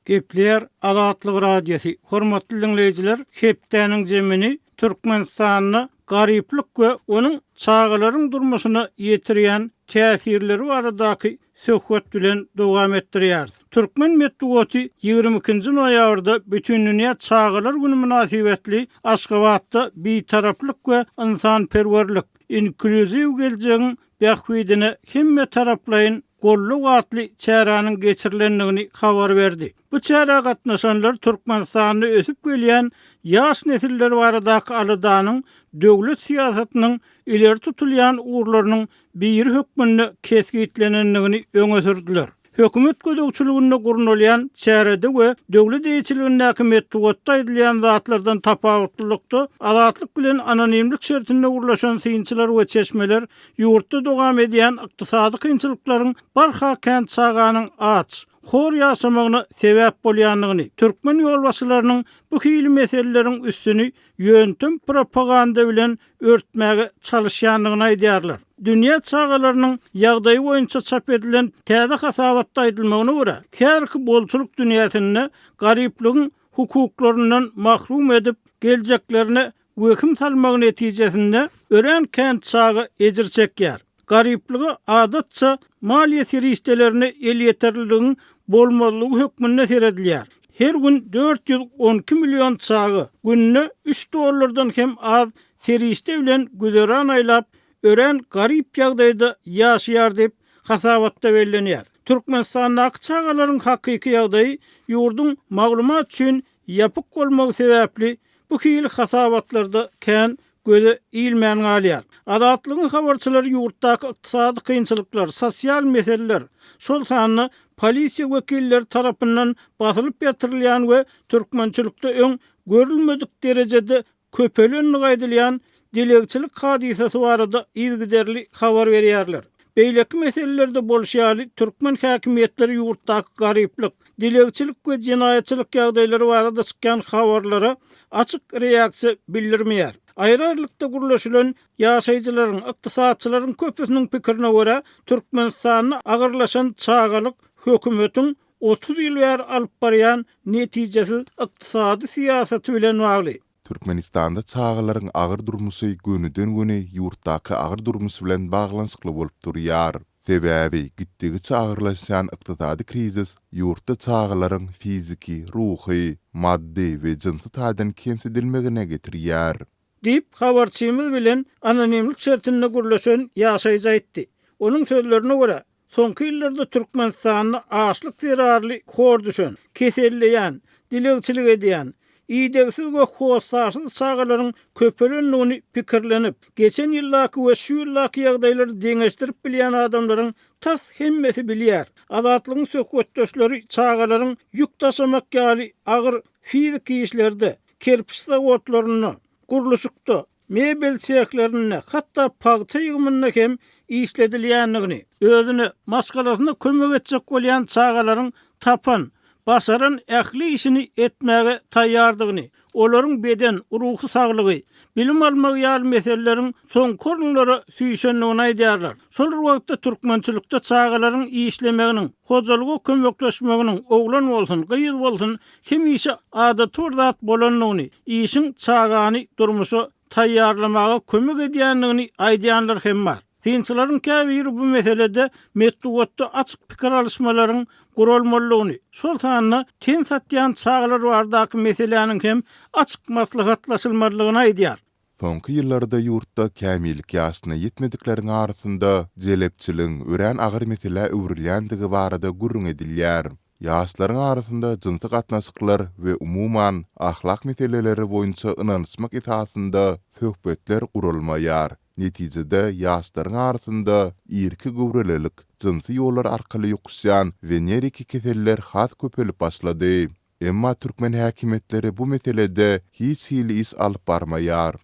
Gepleýär Azatlyk Radiosy, Hormatly diňleýjiler, hepdäniň jemini Türkmenistanda garyplyk we onuň çagalaryň durmuşyna ýetirýän täsirleri baradaky söhbet bilen dowam etdirýäris. Türkmen metbugaty ýigrimi ikinji noýabrda Bütindünýä çagalar güni mynasybetli Aşgabatda Bitaraplyk we ynsanperwerlik, inklýuziw geljegiň bähbidine hemmetaraplaýyn gollag atly çäräniň geçirilendigini habar berdi. Bu çärä gatnaşanlar Türkmenistanda ösüp gelýän ýaş nesiller baradaky aladanyň döwlet syýasatynyň ileri tutulýan ugurlarynyň biri hökmünde kesgitlenendigini öňe sürdüler. Hökümet gözegçiliginde gurnalýan çärede we döwlet eýeçiligindäki metbugatda aýdylýan zatlardan tapawutlylykda, azatlyk bilen anonimlik şertinde gurlaşan synçylar we çeşmeler Ýurtda dowam edýän ykdysady kynçylyklaryň barha kän çaganyň aç, hor ýaşamagyna sebäp bolýandygyny, türkmen ýolbaşçylarynyň bu hili meseleleriň üstüni ýöntem propaganda bilen örtmäge çalyşýandygyny aýdýarlar. Dünýä çagalarynyň ýagdaýy boýunça çap edilen täze hasabatda aýdylmagyna görä, häzirki bolçulyk dünýäsinde garyplygyň hukuklaryndan mahrum edip, geljeklerine Wehim salmagy netijesinde örän kän çaga ejir çekýär. Garyplyga, adatça, maliýe serişdelerine elýeterliligiň bolmazlygy hökmünde seredilýär. Her gün dört ýüz on iki million çaga günde üç dollardan hem az serişde bilen güzeran aýlap, örän garyp ýagdaýda ýaşaýar diýip, hasabatda bellenýär. Türkmenistandaky çagalaryň hakyky ýagdaýy ýurduň maglumat üçin ýapyk bolmagy sebäpli bu hili hasabatlarda kän göze ilmän galýar. Azatlygyň habarçylary ýurtdaky ykdysady kynçylyklar, sosial meseleler, şol sanda polisiýa wekilleri tarapyndan basylyp ýatyrylýan we türkmençilikde öň görülmedik derejede köpelenligi aýdylýan dilegçilik hadysasy barada yzygiderli habar berýärler. Beýleki meselelerde bolşy ýaly, türkmen häkimiýetleri ýurtdaky garyplyk, dilegçilik we jenaýatçylyk ýagdaýlary barada çykýan habarlara açyk reaksiýa bildirmeýär. Aýry-aýrylykda gürleşilen ýaşaýjylaryň, ykdysatçylaryň köpüsiniň pikirine görä, Türkmenistanda agyrlaşan çagalyk hökümetiň otuz ýyl bäri alyp barýan netijesiz ykdysady syýasaty bilen bagly. Türkmenistanda çagalaryň agyr durmuşy gönüden-göni ýurtdaky agyr durmuş bilen baglanyşykly bolup durýar. Sebäbi gitdigiçe agyrlaşýan ykdysady krizis ýurtda çagalaryň fiziki, ruhy, maddy we jynsy taýdan kemsidilmegine getirýär. diýip, habarçymyz bilen anonimlik şertinde gürleşen ýaşaýjy aýtdy. Onuň sözlerine görä, soňky ýyllarda Türkmenistanda açlyk zerarly hor düşen, keselleýän, dilegçilik edýän, idegsiz we hossarsyz çagalaryň köpelendigini pikirlenip, geçen ýyldaky we şu ýyldaky ýagdaýlary deňeşdirip bilýän adamlaryň tas hemmesi bilýär. Azatlygyň söhbetdeşleri çagalaryň ýük daşamak ýaly agyr fiziki işlerde, Kerpiç zawodlarynda, gurluşykda, mebel sehlerinde, hatda pagta ýygymynda hem işledilýändigini, özüne, maşgalasyna kömek etjek bolýan çagalaryň tapan, başaran ähli işini etmäge taýýardygyny, olaryň beden, ruhy saglygy, bilim almagy ýaly meseleleriň soňky orunlara süýşendigini aýdýarlar. Şol bir wagtda türkmençilikde çagalaryň işlemeginiň, hojalyga kömekleşmeginiň, oglan bolsun, gyz bolsun, hemişe adaty bir zat bolandygyny, işiň çagany durmuşa taýýarlamaga kömek edýändigini aýdýanlar hem bar. Synçylaryň käbiri bu meselede metbugatda açyk pikir alyşmalaryň guralmalydygyny, şol sanda ten satýan çagalar bardaky meseläniň hem açyk maslahatlaşylmalydygyny aýdýar. Soňky ýyllarda ýurtda kämillik ýaşyna ýetmedikleriň arasynda jelepçiligiň örän agyr meselä öwrülýändigi barada gürrüň edilýär. Ýaşlaryň arasynda jynsy gatnaşyklar we umuman ahlak meseleleri boýunça ynanyşmak esasynda söhbetler guralmaýar. Netijede ýaşlaryň arasynda irki göwrelilik, jynsy ýollar arkaly ýokuşýan weneriki keseller has köpelip başlady. Emma türkmen häkimiýetleri bu meselede hiç hili iş alyp barmaýar.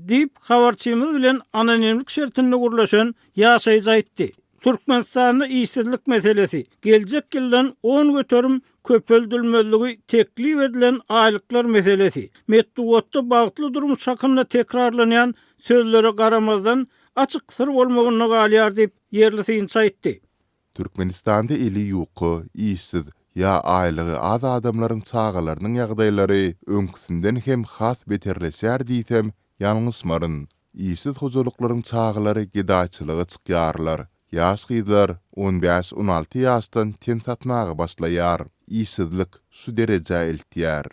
Diýip, habarçymyz bilen anonimlik şertinde gürleşen ýaşaýjy aýtdy. Türkmenistanda işsizlik meselesi, geljek ýyldan on göterim köpeldilmezligi teklip edilen aýlyklar meselesi, metbugatda bagtly durmuş hakynda tekrarlanýan sözlere garamazdan, açyk syr bolmagynda galýar diýip, ýerli synçy aýtdy. Türkmenistanda eli ýuka, işsiz ýa aýlygy az adamlaryň çagalarynyň ýagdaýlary öňküsinden hem has beterleşýär diýsem, ýalňyşmaryn. Işsiz hojalyklaryň çagalary gedaýçylyga çykýarlar. Ýaş gyzlar on bäş, on alty ýaşdan ten satmaga başlaýar. Işsizlik şu derejä eltýär.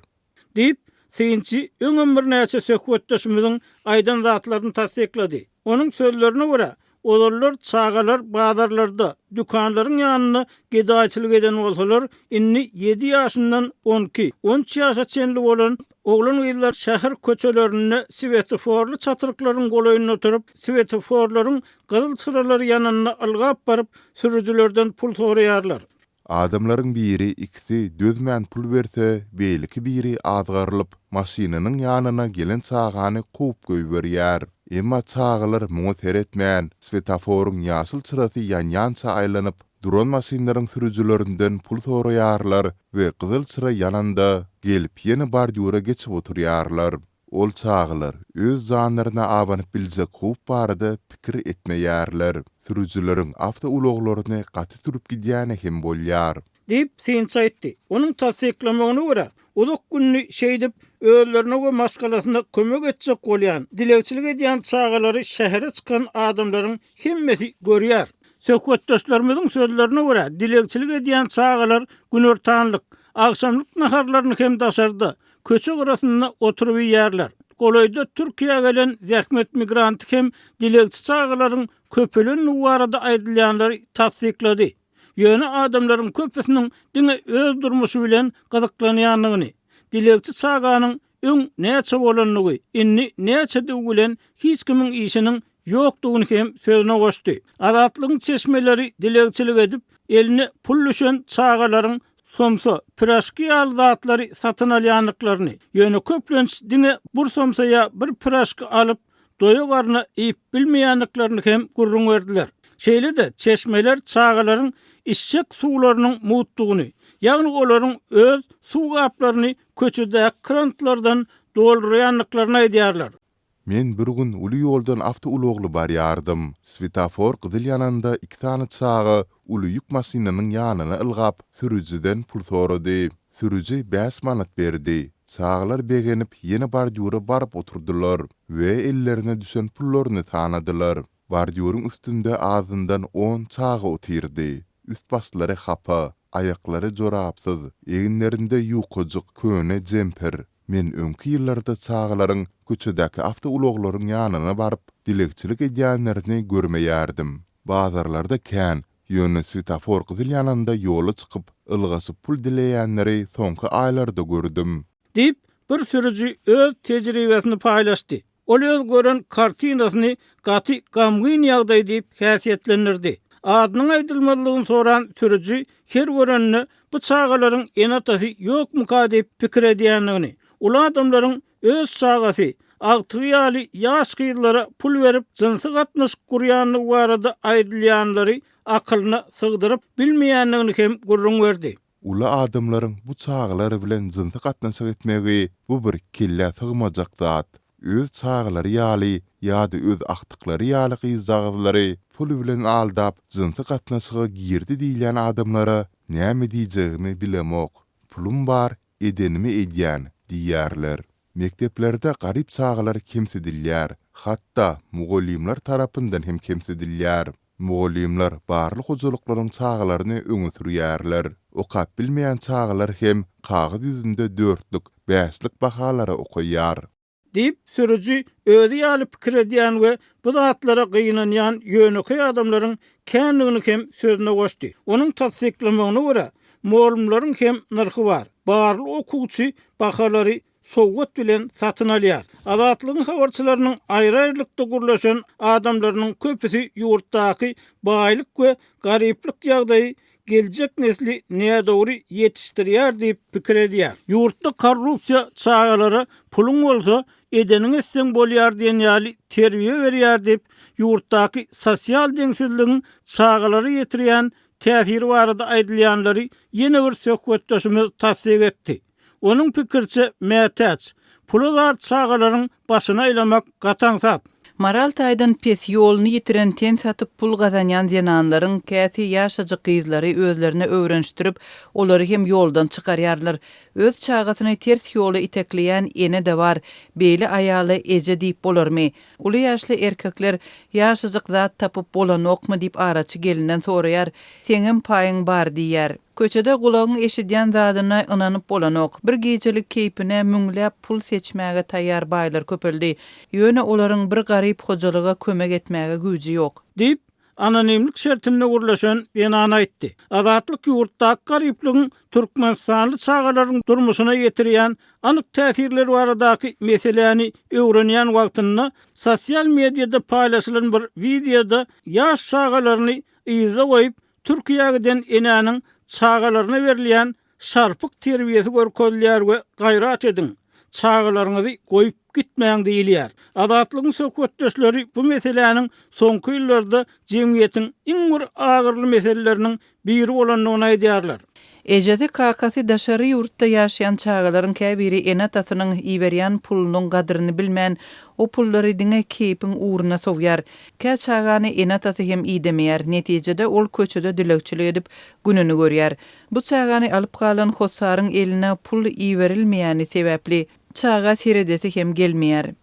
Diýip, synçy öňem birnäçe söhbetdeşimiziň aýdan zatlaryny tassyklady. Onuň sözlerine görä, ozallar çagalar bazarlarda, dükanlaryň ýanynda gedaýçylyk eden bolsalar, indi ýedi ýaşyndan on iki, on üç ýaşa çenli bolan oglan-gyzlar şäher köçelerinde swetoforly çatryklaryň golaýynda oturyp, swetoforlaryň gyzyl çyralary ýananda ylgap baryp, sürüjilerden pul soraýarlar. Adamlaryň biri, ikisi dözmän pul berse, beýleki biri azgarylyp, maşynynyň ýanyna gelen çagany kowup goýberýär. Emma çagalar muňa seretmän, swetaforyň ýaşyl çyrasy ýanýança aýlanyp duran maşynlaryň sürüjilerinden pul soraýarlar we gyzyl çyra ýananda, gelip ýene bordýura geçip oturýarlar. Ol çagalar öz janlaryna abanyp biljek howp barada pikir etmeýärler. Sürüjileriň awtoulaglaryny gaty sürüp gidýäni hem bolýar. Diýip, synçy aýtdy. Onuň tassyklamagyna görä, uzak gününi şeýdip, özlerine we maşgalasyna kömek etjek bolýan, dilegçilik edýän çagalary şähere çykan adamlaryň hemmesi görýär. Söhbetdeşlerimiziň sözlerine görä, dilegçilik edýän çagalar günortanlyk, agşamlyk naharlaryny hem daşarda, Köçe gyrasynda oturyp iýýärler. Golaýda Türkiýä gelen zähmet migranty hem dilegçi çagalaryň köpelendigi barada aýdylýanlary tassyklady. Ýöne adamlaryň köpüsiniň diňe öz durmuşy bilen gyzyklanýandygyny, dilegçi çaganyň öň näçe bolandygy, indi näçedigi bilen hiç kimiň işiniň ýokdugyny hem sözüne goşdy. Azatlygyň çeşmeleri dilegçilik edip, eline pul düşen çagalaryň somsa, piražki ýaly zatlary satyn alýandyklaryny, ýöne köplenç diňe bir somsa ýa bir piražki alyp, doýa-garna iýip bilmeýändiklerini hem gürrüň berdiler. Şeýle-de çeşmeler çagalaryň içjek suwlarynyň mugtdugyny, ýagny olaryň öz suw gaplaryny köçedäki krantlardan doldurýandyklaryny aýdýarlar. Men bir gün uly ýoldan awtoulagly barýardym. Swetafor gyzyl ýananda iki sany çaga uly ýük maşynynyň ýanyna ylgap, sürüjiden pul sorady. Sürüji bäş manat berdi. Çagalar begenip ýene bordýura baryp oturdylar we ellerine düşen pullaryny sanadylar. Bordýuryň üstünde azyndan on çaga otyrdy. Üst-başlary hapa, aýaklary jorapsyz, eginlerinde ýukajyk köne jemper. Men öňki ýyllarda çagalaryň köçedäki awtoulaglaryň ýanyna baryp, dilegçilik edýänlerini görmeýärdim. Bazarlarda kän, ýöne swetafor gyzyl ýananda ýola çykyp, ylgaşyp pul dileýänleri soňky aýlarda gördüm. Diýip, bir sürüji öz tejribesini paýlaşdy. Ol öz gören kartinasyny gaty gamgyn ýagdaý diýip häsiýetlendirdi. Adynyň aýdylmazlygyny soran sürüji her görenine bu çagalaryň ene-atasy ýokmyka diýip pikir edýändigini, uly adamlaryň öz çagasy, agtygy ýaly ýaş gyzlara pul berip jynsy gatnaşyk gurýandygy barada aýdylýanlary akylyna sygdyryp bilmeýändigini hem gürrüň berdi. Uly adamlaryň bu çagalar bilen jynsy gatnaşyk etmegi bu bir kellä sygmajak zat. Öz çagalary ýaly ýa-da öz agtyklary ýaly gyzjagazlary pul bilen aldap jynsy gatnaşyga girdi diýilýän adamlara näme diýjegimi bilemok. Pulum bar, edenimi edýän diýýärler. Mekdeplerde garyp çagalar kemsidilýär, hatda mugallymlar tarapyndan hem kemsidilýär. Mugallymlar barly hojalyklaryň çagalaryny öňe sürýärler. Okap bilmeýän çagalar hem kagyz ýüzünde dörtlük, bäşlik bahalary okaýar. Diýip, sürüji özi ýaly pikir edýän we bu zatlara gynanýan ýönekeý adamlaryň kändigini hem sözüne goşdy. Onuň tassyklamagyna görä, mugallymlaryň hem nyrhy bar. Barly okuwçy bahalary sowgat bilen satyn alýar. Azatlygyň habarçylarynyň aýry-aýrylykda gürleşen adamlarynyň köpüsi ýurtdaky baýlyk we garyplyk ýagdaýy geljek nesli nädogry ýetişdirýär diýip pikir edýär. Ýurtda korrupsiýa çagalara puluň bolsa, edeniňi etseň bolýar diýen ýaly terbiýe berýär diýip, ýurtdaky sosial deňsizligiň çagalara ýetirýän täsiri barada aýdylýanlary ýene bir söhbetdeşimiz tassyk etdi. Onuň pikiriçe, mätäç, pula zar çagalaryň başyny aýlamak gataň zat. Moral taýdan pes, ýoluny ýitiren, ten satyp pul gazanýan zenanlaryň käsi ýaşajyk gyzlary özlerine öwrenişdirip, olary hem ýoldan çykarýarlar. Öz çagasyny ters ýola itekleýän ene-de bar. Beýle aýala eje diýip bolarmy? Uly ýaşly erkekler Ýaşajyk zat tapyp bolanokmy diýip araçy gelinden soraýar. Seňem paýyň bar diýýär. Köçede gulagyň eşidýän zadyna ynanyp bolanok. Bir gijelik keýpine müňläp pul seçmäge taýýar baýlar köpeldi. Ýöne olaryň bir garyp hojalyga kömek etmäge güýji ýok. Diýip, anonimlik şertinde gürleşen zenan aýtdy. Azatlyk ýurtdaky garyplygyň türkmenistanly çagalaryň durmuşyna ýetirýän anyk täsirleri baradaky meseläni öwrenýän wagtynda, sosial mediada paýlaşylan bir wideoda ýaş çagalaryny yzda goýup, Türkiýä giden enäniň çagalaryna berilýän şarpyk terbiýesi görkezilýär we gaýrat ediň, çagalaryňyzy goýup gitmäň diýilýär. Azatlygyň söhbetdeşleri bu meseläniň soňky ýyllarda jemgyýetiň iň bir agyryly meseleleriniň biri bolandygyny aýdýarlar. Ejesi, kakasy daşary ýurtda ýaşaýan çagalaryň käbiri ene-atasynyň iberýän pulunyň gadyryny bilmän, o pullary diňe keýpiň ugruna sowýar. Kä çagany ene-atasy hem idemeýär, netijede ol köçede dilegçilik edip gününi görýär. Bu çagany alyp galan hossaryň eline pul iberilmeýäni sebäpli, çaga seredesi hem gelmeýär.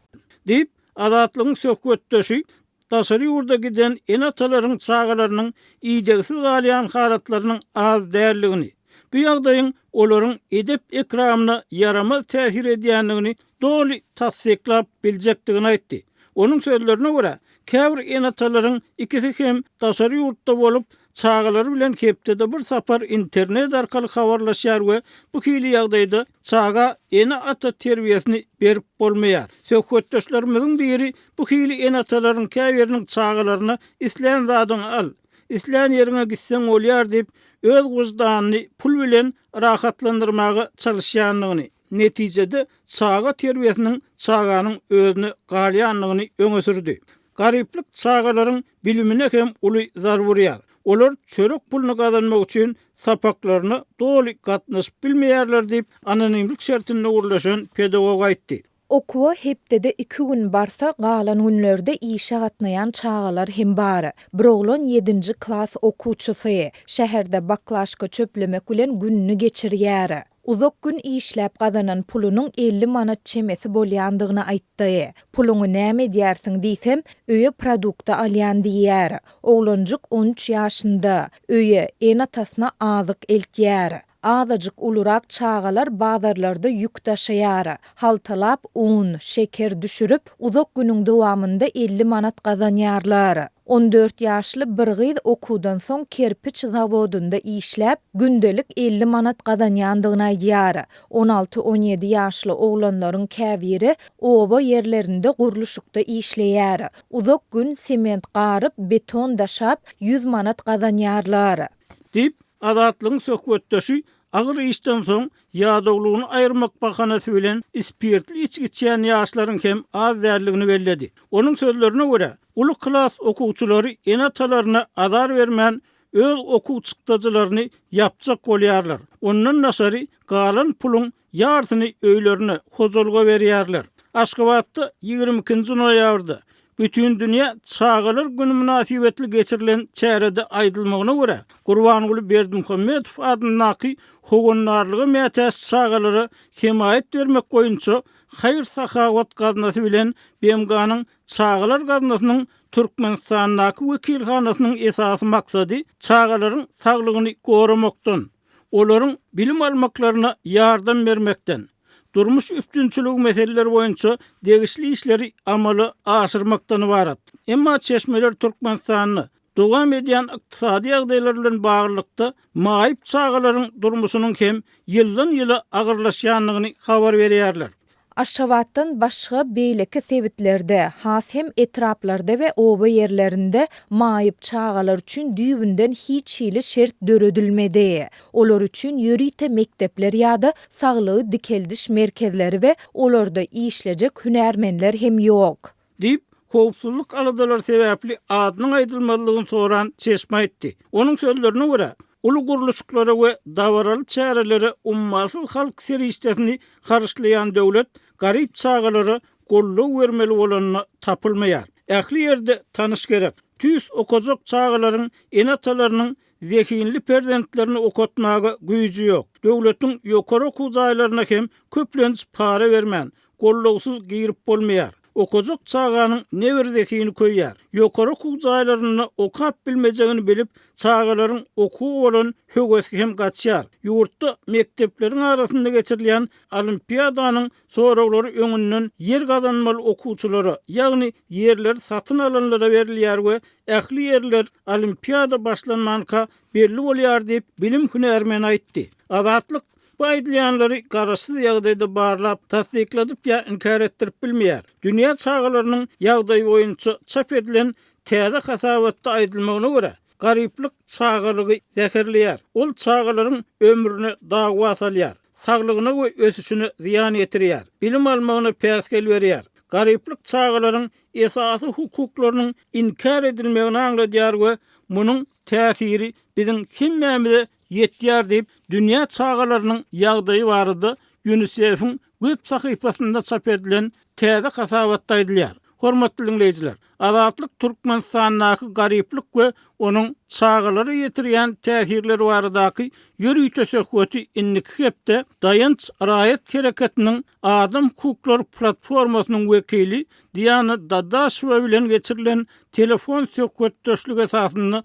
Diýip, Azatlygyň söhbetdeşi daşary ýurda giden ene-atalaryň çagalarynyň idegsiz galýan halatlarynyň az däldigini, bu ýagdaýyň olaryň edep-ekramyna ýaramaz täsir edýändigini doly tassyklap biljekdigini aýtdy. Onuň sözlerine görä, käbir ene-atalaryň ikisi hem daşary ýurtda bolup, çagalary bilen hepdede bir sapar internet arkaly habarlaşýar we bu hili ýagdaýda çaga ene-ata terbiýesini berip bolmaýar. Söhbetdeşlerimiziň biri bu hili ene-atalaryň käbiriniň çagalaryna islän zadyňy al, islän ýeriňe gitseň bolýar diýip, öz wyždanyny pul bilen rahatlandyrmaga çalyşýandygyny, Netijede, çaga terbiýesiniň çaganyň özüne galýandygyny öňe sürdi. Garyplyk çagalaryň bilimine hem uly zarba urýar. Olar çörek puluny gazanmak üçin sapaklaryna doly gatnaşyp bilmeýärler diýip, anonimlik şertinde gürleşen pedagog aýtdy. Okuwa hepdede iki gün barsa, galan günlerde işe gatnaýan çagalar hem bar. Bir oglan ýedinji klas okuwçysy. Şäherde baklažka çöplemek bilen gününi geçirýär. Uzak gün işläp gazanan pulunyň elli manat çemesi bolýandygyny aýtdy. Puluňy näme edýärsiň diýsem, öýe produkty alýan diýýär. Oglanjyk on üç ýaşynda. Öýe, ene-atasyna azyk eltýär. Azajyk ulurak çagalar bazarlarda ýük daşaýar. Haltalap un, şeker düşürip, uzak günüň dowamynda elli manat gazanýarlar. On dört ýaşly bir gyz okuwdan soň kerpiç zawodynda işläp, gündelik elli manat gazanýandygyny aýdýar. On alty-on ýedi ýaşly oglanlaryň käbiri oba ýerlerinde gurluşykda işleýär. Uzak gün sement garyp, beton daşap, ýüz manat gazanýarlar. Diýip, Azatlygyň söhbetdeşi Agyr işden soň, ýadawlygyny aýyrmak bahanasy bilen spirtli içgi içýän ýaşlaryň hem az däldigini belledi. Onuň sözlerine görä, uly klas okuwçylary ene-atalaryna azar bermän, öz okuw çykdajylaryny ýapjak bolýarlar. Ondan daşary, galan puluň ýarsyny öýlerine, hojalyga berýärler. Aşgabatda ýigrimi ikinji noýabrda Bütindünýä çagalar güni mynasybetli geçirilen çärede aýdylmagyna görä, Gurbanguly Berdimuhamedow adyndaky Howandarlyga mätäç çagalara hemaýat bermek boýunça haýyr-sahawat gaznasy bilen BMG-niň Çagalar gaznasynyň Türkmenistandaky wekilhanasynyň esasy maksady çagalaryň saglygyny goramakdan, olaryň bilim almaklaryna ýardam bermekden, durmuş üpjünçiligi meseleleri boýunça degişli işleri amala aşyrmakdan ybarat. Emma çeşmeler Türkmenistanda dowam edýän ykdysady ýagdaýlar bilen baglylykda maýyp çagalaryň durmuşynyň hem ýyldan-ýyla agyrlaşýandygyny habar berýärler. Aşgabatdan başga beýleki sebitlerde, has hem etraplarda we oba ýerlerinde maýyp çagalar üçin düýbünden hiç hili şert döredilmedi. Olar üçin ýörite mekdepler ýa-da saglygy dikeldiş merkezleri we olarda işlejek hünärmenler hem ýok. diýip, howpsuzlyk aladalary sebäpli adynyň aýdylmazlygyny soran çeşme aýtdy. Onuň sözlerine görä, uly gurluşyklara we dabaraly çärelere ummasyz halk serişdesini harçlaýan döwlet garyp çagalara goldaw bermeli bolanda tapylmaýar. Ähli ýerde tanyş gerek. Tüýs okajak çagalaryň ene-atalarynyň zehinli perzentlerini okatmaga güýji ýok. Döwletiň ýokary okuw jaýlaryna hem köplenç para bermän, Gollawsyz girip bolmaýar. Okajak çaganyň ne bir zehini köýýär. Ýokary okuw jaýlarynda okap bilmejegini bilip, çagalaryň okuwa bolan höwesi hem gaçýar. Ýurtda mekdepleriň arasynda geçirilýän olimpiadanyň soraglary öňünden ýer gazanmaly okuwçylara, ýagny ýerleri satyn alanlara berilýär we ähli ýerler olimpiada başlanmanka belli bolýar diýip, bilim hünärmeni aýtdy. Azatlyk. Bu aýdylýanlary garaşsyz ýagdaýda barlap, tassykladyp ýa inkär etdirip bilmeýär. Dünýä çagalarynyň ýagdaýy boýunça çap edilen täze hasabatda aýdylmagyna görä, garyplyk çagalygy zäherleýär. Ol çagalaryň ömrüne dawa salýar, saglygyna we ösüşine zyýan ýetirýär, bilim almagyna päsgel berýär. Garyplyk çagalaryň esasy hukuklarynyň inkär edilmegini aňladýar we munuň täsiri biziň hemmämize ýetýär diýip, dünýä çagalarynyň ýagdaýy barada Ýunisefiň web sahypasynda çap edilen täze hasabatda aýdylýar. Hormatly diňleýjiler, Azatlyk Türkmenistandaky garyplyk we onuň çagalara ýetirýän täsirleri baradaky ýörite söhbeti indiki hepde Daýanç raýat hereketiniň adam hukuklary platformasynyň wekili Diana Dadaşewa bilen geçirilen telefon söhbetdeşligi esasynda